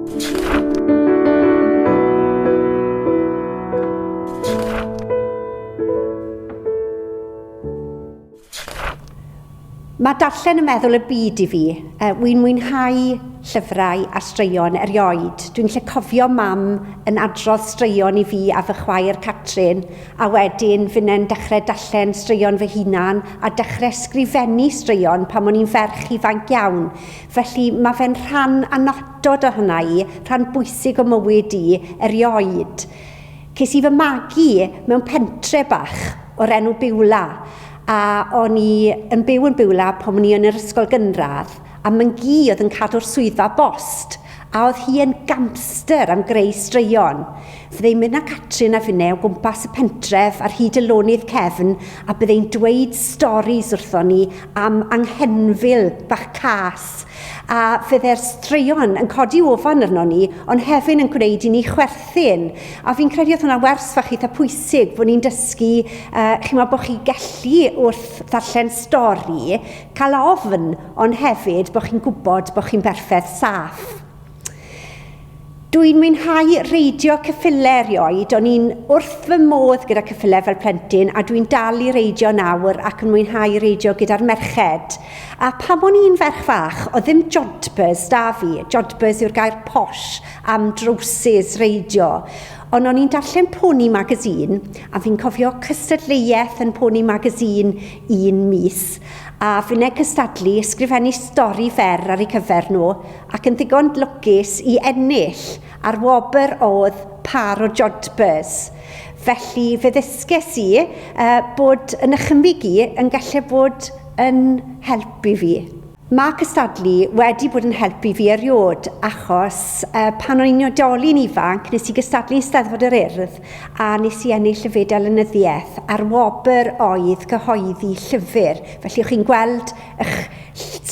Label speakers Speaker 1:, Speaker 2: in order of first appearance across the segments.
Speaker 1: Mae darllen y meddwl y byd i fi. E, Wy'n mwynhau llyfrau a straeon erioed. Dwi'n lle cofio mam yn adrodd straeon i fi a fy chwaer Catrin, a wedyn fyne'n dechrau darllen straeon fy hunan a dechrau sgrifennu straeon pan o'n i'n ferch ifanc iawn. Felly, mae fe'n rhan annatod o hynna i, rhan bwysig o mywyd i, erioed. Ces i fy magu mewn pentre bach o'r enw Biwla, a o'n i yn byw yn Biwla pan o'n i yn yr ysgol gynradd, a myn gi oedd yn cadw'r swyddfa bost, a oedd hi yn gamster am greu straeon. Fydde'n mynd â Catrin a finne o gwmpas y pentref ar hyd y lonydd cefn a bydde'n dweud storis wrthon ni am anghenfil bach cas, a fydde'r straeon yn codi ofon arnon ni ond hefyn yn gwneud i ni chwerthin. A fi'n credu oedd hwnna'n wers fach eitha pwysig bod ni'n dysgu uh, chimo bod chi gellu wrth ddarllen stori cael ofn ond hefyd bod chi'n gwybod bod chi'n berffaith saff. Dw i'n mwynhau reidio cyffile erioed, o'n i'n wrth fy modd gyda cyffile fel plentyn a dw i'n dal i reidio nawr ac yn mwynhau reidio gyda'r merched. A pam o'n i'n ferch fach, oedd ddim jodhpurs 'da fi, jodhpurs yw'r gair posh am drowsus reidio, ond o'n i'n darllen Pony Magazine a fi'n cofio cystadleuaeth yn Pony Magazine un mis a fineg cystadlu ysgrifennu stori fer ar eu cyfer nhw ac yn ddigon lwcus i ennill ar wobr oedd Par o Jodhpurs, felly fe ddysges i bod y nychymyg i yn gallu bod yn help i fi. Mae cystadlu wedi bod yn help i fi eriod achos pan o'n i'n oedolyn ifanc nes i gystadlu yn Steddfod yr Urdd a nes i ennill y Fedal Lenyddiaeth a'r wobr oedd cyhoeddi llyfr, felly o'ch chi'n gweld Eich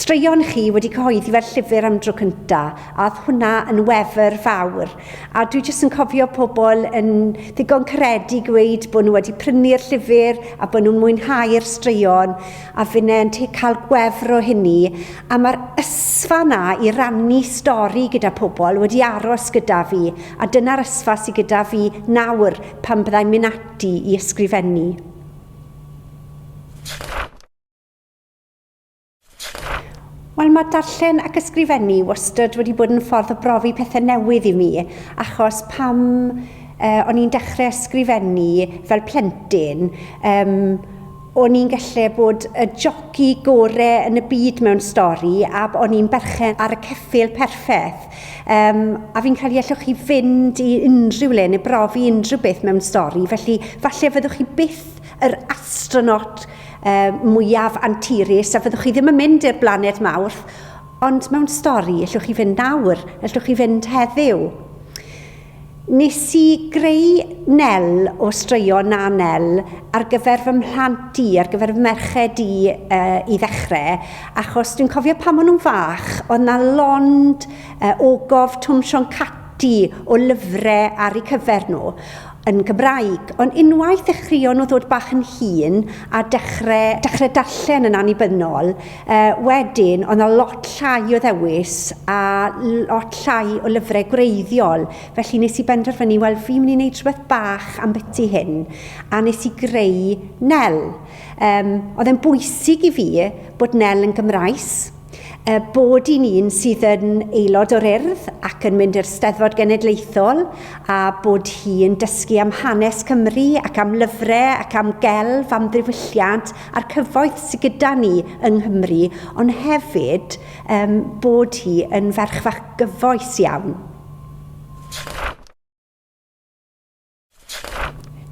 Speaker 1: straeon chi wedi cyhoeddi fel llyfr am dro cynta, a oedd hwnna yn wefr fawr. A dwi jyst yn cofio pobl yn ddigon caredig gweud bod nhw wedi prynu'r llyfr a bod nhw'n mwynhau'r straeon, a finne yn te cael gwefr o hynny. A mae'r ysfa yna i rannu stori gyda pobl wedi aros gyda fi, a dyna'r ysfa sydd gyda fi nawr pan byddai'n mynd ati i ysgrifennu. Wel, mae darllen ac ysgrifennu wastad wedi bod yn ffordd o brofi pethau newydd i mi, achos pam uh, o'n i'n dechrau ysgrifennu fel plentyn, um, o'n i'n gallu bod y joci gore yn y byd mewn stori a o'n i'n berchen ar y ceffil perffaith. Um, a fi'n credu allwch chi fynd i unrhyw le neu brofi unrhyw beth mewn stori, felly falle fyddwch chi byth yr astronot mwyaf anturus a fyddwch chi ddim yn mynd i'r blaned Mawrth, ond mewn stori, ellwch chi fynd nawr, ellwch chi fynd heddiw. Nes i greu Nel o straeon na Nel ar gyfer fy mhlant i, ar gyfer fy merched i uh, i ddechrau, achos dwi'n cofio pan maen nhw'n fach, oedd na lond uh, ogof Twm Sion Cati o lyfrau ar eu cyfer nhw. yn Gymraeg, ond unwaith ddechreuon nhw ddod bach yn hŷn a dechre, dechre darllen yn annibynnol, uh, wedyn ond a lot llai o ddewis a lot llai o lyfrau gwreiddiol, felly nes i benderfynu, wel fi'n mynd i wneud rhywbeth bach am byti hyn, a nes i greu Nel. Um, oedd e'n bwysig i fi bod Nel yn Gymraes, Er bod i'n un sydd yn aelod o'r Urdd ac yn mynd i'r Steddfod Genedlaethol a bod hi yn dysgu am hanes Cymru ac am lyfrau ac am gelf, am ddiwylliant a'r cyfoeth sydd gyda ni yng Nghymru ond hefyd um, bod hi yn ferch fach gyfoes iawn.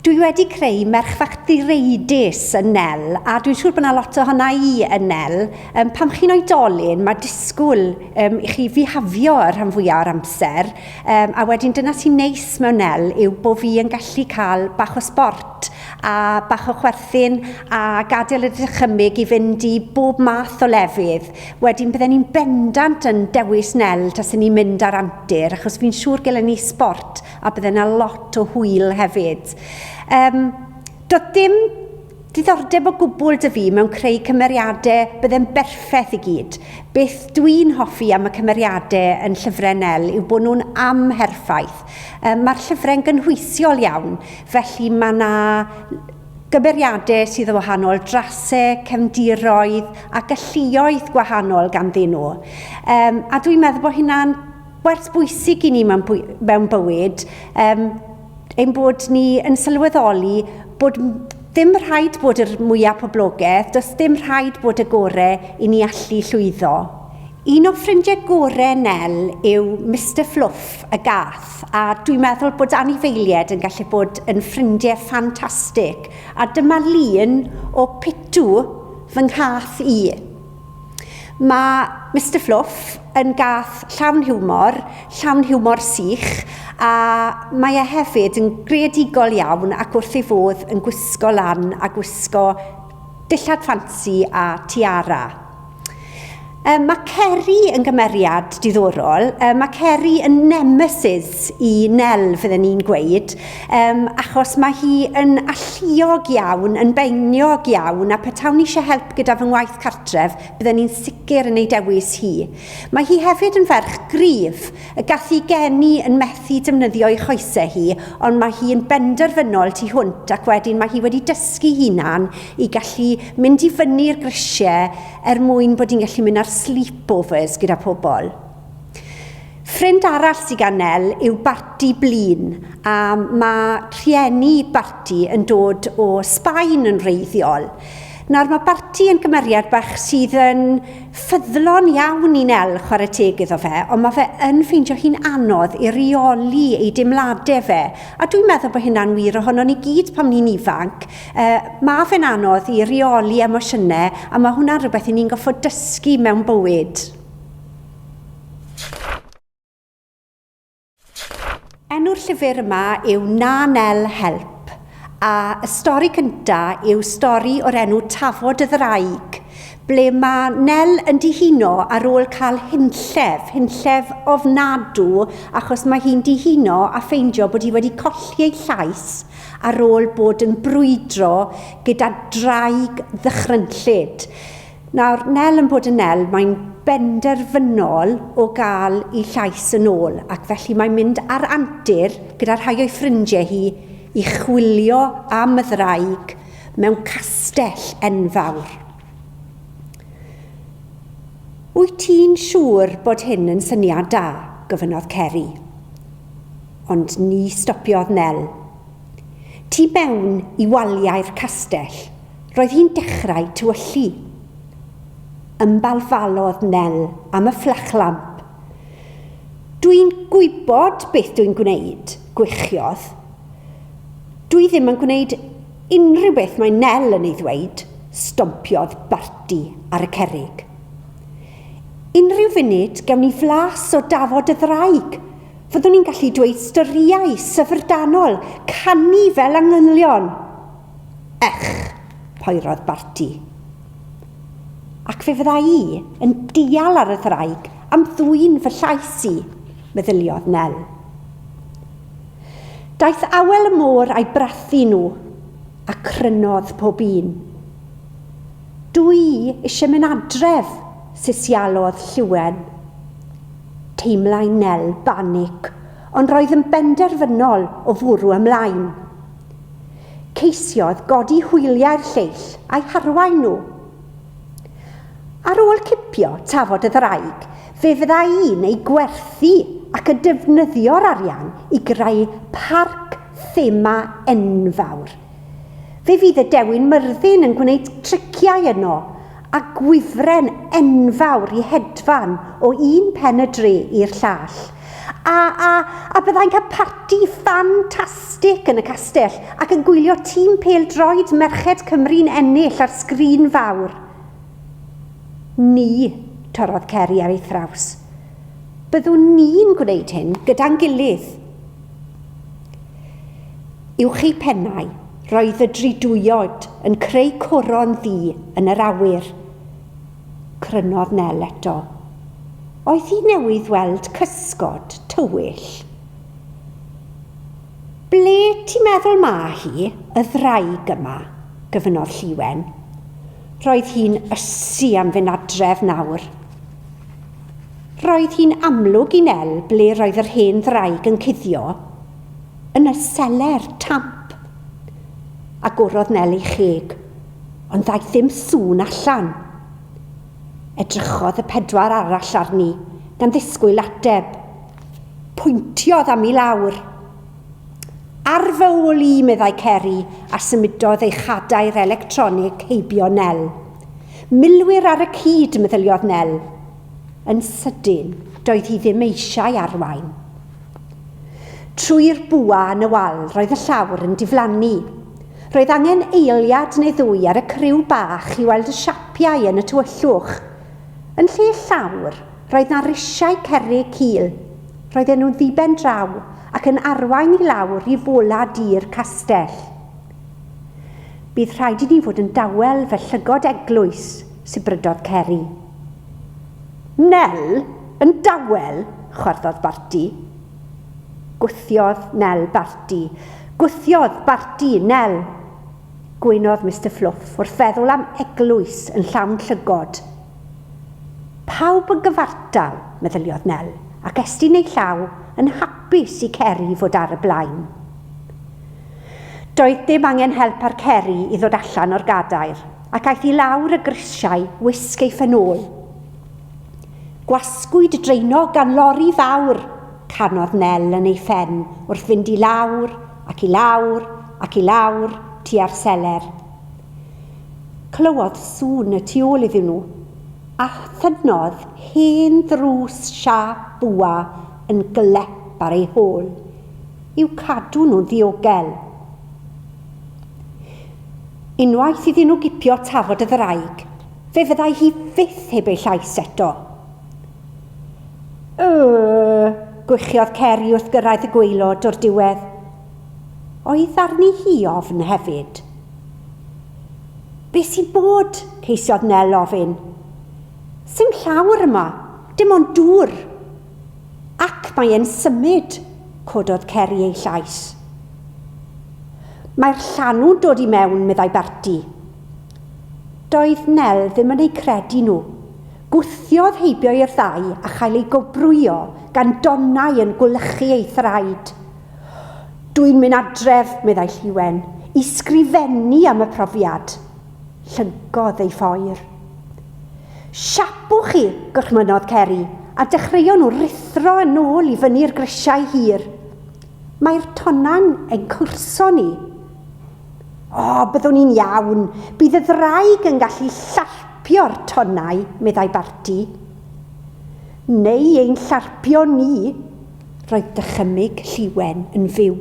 Speaker 1: Dwi wedi creu merch fach direidus yn Nel, a dwi'n siŵr bod yna lot ohona i yn Nel. Um, pam chi'n oedolyn, mae disgwyl um, i chi fihafio y rhan fwyaf o'r amser, um, a wedyn dyna sy'n neis mewn Nel yw bod fi yn gallu cael bach o sport a bach o chwerthin a gadael y dychymyg i fynd i bob math o lefydd. Wedyn bydden ni'n bendant yn dewis Nel tas ni'n mynd ar antur, achos fi'n siŵr gyda ni sport a bydde 'na lot o hwyl hefyd. Um, doedd dim diddordeb o gwbl dy fi mewn creu cymeriadau bydde'n berffaith i gyd. Beth dwi'n hoffi am y cymeriadau yn llyfrau Nel yw bod nhw'n amherffaith. Um, Mae'r llyfrau'n gynhwysiol iawn, felly mae yna gymeriadau sydd o wahanol drasau, cefndiroedd a galluoedd gwahanol ganddyn nhw. Um, a dwi'n meddwl bod hynna'n Werth bwysig i ni mewn bywyd um, ein bod ni yn sylweddoli bod ddim rhaid bod yr mwyaf poblogaeth, does ddim rhaid bod y gore i ni allu llwyddo. Un o ffrindiau gore Nel yw Mr Fluff y gath, a dwi'n meddwl bod anifeiliaid yn gallu bod yn ffrindiau ffantastig, a dyma lun o Pitw, fy nghath i. Mae Mister Fluff yn gath llawn hiwmor, llawn hiwmor sych, a mae e hefyd yn greadigol iawn ac wrth ei fodd yn gwisgo lan a gwisgo dillad ffansi a tiara. Yy, mae Ceri yn gymeriad diddorol. Yy, mae Ceri yn nemesis i Nel, fydden ni'n gweud. Um, achos mae hi yn alluog iawn, yn beiniog iawn, a petawn ni eisiau help gyda fy ngwaith cartref, byddwn ni'n sicr yn ei dewis hi. Mae hi hefyd yn ferch gryf, y gallu geni yn methu defnyddio ei choesau hi, ond mae hi yn benderfynol tu hwnt ac wedyn mae hi wedi dysgu hunan i gallu mynd i fyny'r grisiau er mwyn bod hi'n gallu mynd ar sleepovers gyda pobl. Ffrind arall sydd gan Nel yw Barti Blin a mae rhieni Barti yn dod o Sbaen yn wreiddiol. Nawr mae Barti yn gymeriad bach sydd yn ffyddlon iawn i Nel, chwarae teg iddo fe, ond mae fe yn ffeindio hi'n anodd i reoli ei deimladau fe, a dwi'n meddwl bod hynna'n wir ohono ni gyd pan ni'n ifanc, uh, mae fe'n anodd i reoli emosiynau a mae hwnna'n rhywbeth i ni'n goffod dysgu mewn bywyd. Enw'r llyfr yma yw Na Nel Help, a y stori cynta yw stori o'r enw Tafod y Ddraig, ble mae Nel yn dihuno ar ôl cael hunllef, hunllef ofnadw, achos mae hi'n dihuno a ffeindio bod hi wedi colli ei llais ar ôl bod yn brwydro gyda draig ddychrynllyd. Nawr, Nel yn bod yn Nel, mae'n benderfynol o gael ei llais yn ôl, ac felly mae'n mynd ar antur gyda rhai o'i ffrindiau hi i chwilio am y ddraig mewn castell enfawr. Wyt ti'n siŵr bod hyn yn syniad da? gofynnodd Ceri. Ond ni stopiodd Nel. Tu mewn i waliau'r castell, roedd hi'n dechrau tywyllu. Ymbalfalodd Nel am y fflachlamp. Dw i'n gwybod beth dw i'n gwneud, gwichiodd. Dw i ddim yn gwneud unrhyw beth mae Nel yn ei ddweud, stompiodd Barti ar y cerrig. Unrhyw funud gewn ni flas o dafod y ddraig, Fyddwn ni'n gallu dweud storïau syfrdanol, canu fel angylion. Ych, poerodd Barti. Ac fe fydda i yn dial ar y ddraig am ddwyn fy llais i, meddyliodd Nel. Daeth awel y môr a'i brathu nhw, a crynodd pob un. Dw i eisiau mynd adref, sesialodd Lliwen. Teimlai Nel banig, ond roedd yn benderfynol o fwrw ymlaen. Ceisiodd godi hwyliau'r lleill a'i harwain nhw. Ar ôl cipio tafod y ddraig, fe fyddai'n ei gwerthu ac yn defnyddio'r arian i greu parc thema enfawr. Fe fydd y Dewin Myrddin yn gwneud triciau yno a gwifren enfawr i hedfan o un pen y dre i'r llall. A, a, a byddai'n cael parti ffantastig yn y castell ac yn gwylio tîm pêl-droed merched Cymru'n ennill ar sgrin fawr. Ni, torrodd Ceri ar ei thraws. Byddwn ni'n gwneud hyn gyda'n gilydd. Uwch ei phennau, roedd y dridwyod yn creu coron ddu yn yr awyr. Crynodd Nel eto. Oedd hi newydd weld cysgod tywyll. Ble ti'n meddwl ma hi, y ddraig yma? gyfynodd Lliwen. Roedd hi'n ysu am fynd adref nawr. Roedd hi'n amlwg i Nel ble roedd yr hen ddraig yn cuddio, yn y seler, tamp! Agorodd Nel ei cheg, ond ddaeth ddim sŵn allan. Edrychodd y pedwar arall arni, gan ddisgwyl ateb. Pwyntiodd am i lawr. Ar fy ôl i, meddai Ceri, a symudodd ei chadair electronig heibio Nel. Milwyr ar y cyd, meddyliodd Nel. Yn sydyn, doedd hi ddim eisiau arwain. Trwy'r bwa yn y wal, roedd y llawr yn diflannu. Roedd angen eiliad neu ddwy ar y criw bach i weld y siapiau yn y tywyllwch. Yn lle llawr, Roedd 'na risiau cerrig cul. Roedden nhw'n ddiben draw ac yn arwain i lawr i fola du'r castell. Bydd rhaid i ni fod yn dawel fel llygod eglwys, sibrydodd Ceri. Nel, yn dawel? chwarddodd Barti. Gwthiodd Nel Barti. Gwthiodd Barti Nel! gwynodd Mister Fluff wrth feddwl am eglwys yn llawn llygod. Pawb yn gyfartal, meddyliodd Nel, ac estyn ei llaw yn hapus i Ceri fod ar y blaen. Doedd dim angen help ar Ceri i ddod allan o'r gadair, ac aeth i lawr y grisiau wisg ei phenôl. Gwasgwyd draenog gan lori fawr! canodd Nel yn ei phen wrth fynd i lawr ac i lawr ac i lawr tua'r seler. Clywodd sŵn y tu ôl iddyn nhw, a thynnodd hen ddrws siâp bwa yn glep ar ei hôl, i'w cadw nhw'n ddiogel. Unwaith iddyn nhw gipio tafod y ddraig, fe fyddai hi fyth heb ei llais eto. Yy! gwychiodd Ceri wrth gyrraedd y gwaelod o'r diwedd. Oedd arni hi ofn hefyd. Be sy'n bod? ceisiodd Nel ofyn. Sim llawr yma, dim ond dŵr. Ac mae e'n symud, cododd Ceri ei llais. Mae'r llanw'n dod i mewn, meddai Berti. Doedd Nel ddim yn eu credu nhw. Gwthiodd heibio i'r ddau a chael ei gobrwyo gan donnau yn gwlychu ei thraed. Dwi'n mynd adref, meddai Lliwen, i sgrifennu am y profiad. Llyncodd ei phoer. Siapwch chi, gorchmynnodd Ceri, a dechreuon nhw ruthro yn ôl i fyny'r grisiau hir. Mae'r tonnau'n ein cwrso ni. O, byddwn i'n iawn. Bydd y ddraig yn gallu llarpio'r tonnau, meddai Barti. Neu ein llarpio ni, Roedd dychymyg Lliwen yn fyw.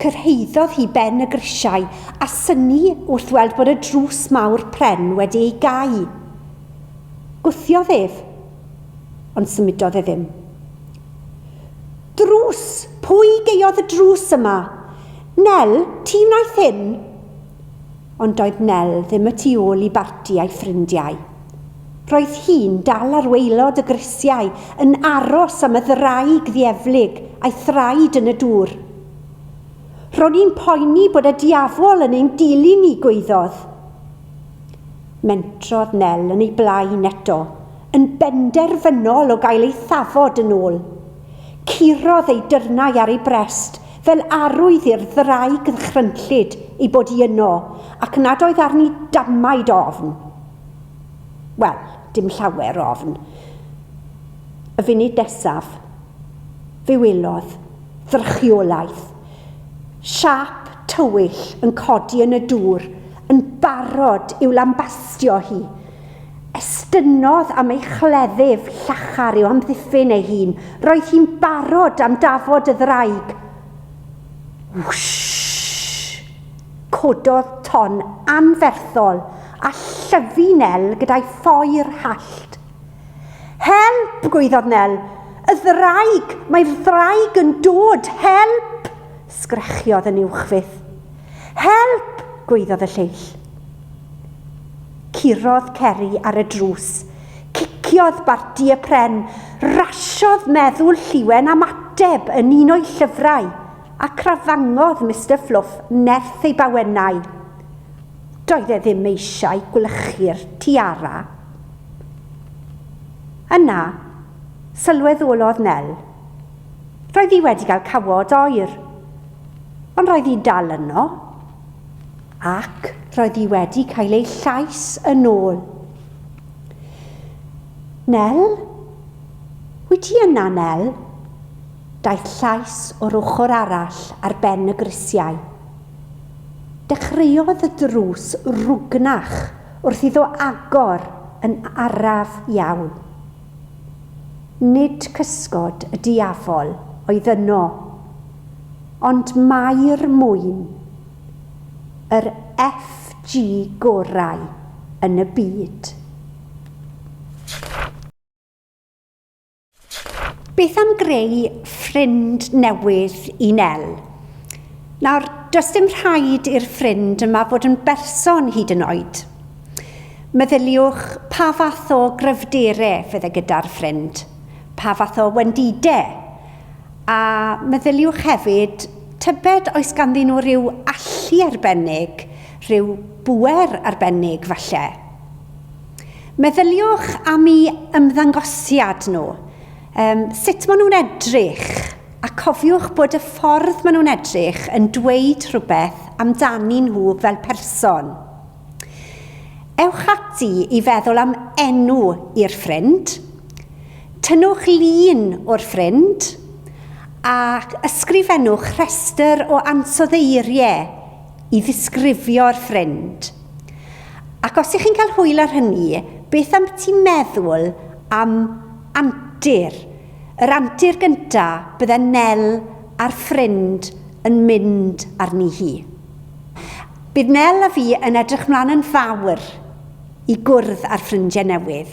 Speaker 1: Cyrhaeddodd hi ben y grisiau a synnu wrth weld bod y drws mawr pren wedi ei gau. Gwthiodd ef, ond symudodd e ddim. Drws! Pwy gaeodd y drws yma? Nel, ti wnaeth hyn? Ond doedd Nel ddim y tu ôl i barti a'i ffrindiau. Roedd hi'n dal ar waelod y grisiau yn aros am y ddraig ddieflig a'i thraed yn y dŵr. Ro'n i'n poeni bod y diafol yn ein dilyn ni, gwaeddodd. Mentrodd Nel yn ei blaen eto, yn benderfynol o gael ei thafod yn ôl. Curodd ei dyrnau ar ei brest fel arwydd i'r ddraig ddychrynllyd ei bod hi yno, ac nad oedd arni damaid ofn. Wel, dim llawer o ofn. Y funud nesaf, fe welodd ddrychiolaeth. Siâp tywyll yn codi yn y dŵr, yn barod i'w lambastio hi. Estynnodd am ei chleddyf llachar i'w amddiffyn ei hun. Roedd hi'n barod am dafod y ddraig. Wwshh! Cododd ton anferthol a llyfu Nel gyda'i phoer hallt. Help! gwaeddodd Nel. Y ddraig! Mae'r ddraig yn dod! Help! Sgrechiodd yn uwchfyth. Help! gwaeddodd y lleill. Curodd Ceri ar y drws. Ciciodd Barti y pren. Rasiodd meddwl Lliwen am ateb yn un o'i llyfrau, a crafangodd Mister Fluff nerth ei bawennau. Doedd e ddim eisiau gwlychu'r tiara. Yna, sylweddolodd Nel. Roedd hi wedi cael cawod oer, ond roedd hi'n dal yno, ac roedd hi wedi cael ei llais yn ôl. Nel? Wyt ti yna, Nel? Daeth llais o'r ochr arall ar ben y grisiau. Dechreuodd y drws rwgnach wrth iddo agor yn araf iawn. Nid cysgod y diafol oedd yno, ond mai'r mwyn, yr FG gorau yn y byd. Beth am greu ffrind newydd i Nel? Nawr, does dim rhaid i'r ffrind yma fod yn berson hyd yn oed. Meddyliwch pa fath o gryfdere fydd e gyda'r ffrind, pa fath o wendide, a meddyliwch hefyd tybed oes ganddyn nhw ryw allu arbennig, rhyw bŵer arbennig falle. Meddyliwch am i ymddangosiad nhw, yym, sut maen nhw'n edrych, a cofiwch bod y ffordd maen nhw'n edrych yn dweud rhywbeth amdanyn nhw fel person. Ewch ati i feddwl am enw i'r ffrind, tynnwch lun o'r ffrind ac ysgrifennwch rhestr o ansoddeiriau i ddisgrifio'r ffrind. Ac os ych chi'n cael hwyl ar hynny, beth ambyti meddwl am antur, yr antur gyntaf bydde Nel a'r ffrind yn mynd arni hi? Bydd Nel a fi yn edrych mlaen yn fawr i gwrdd â'r ffrindiau newydd.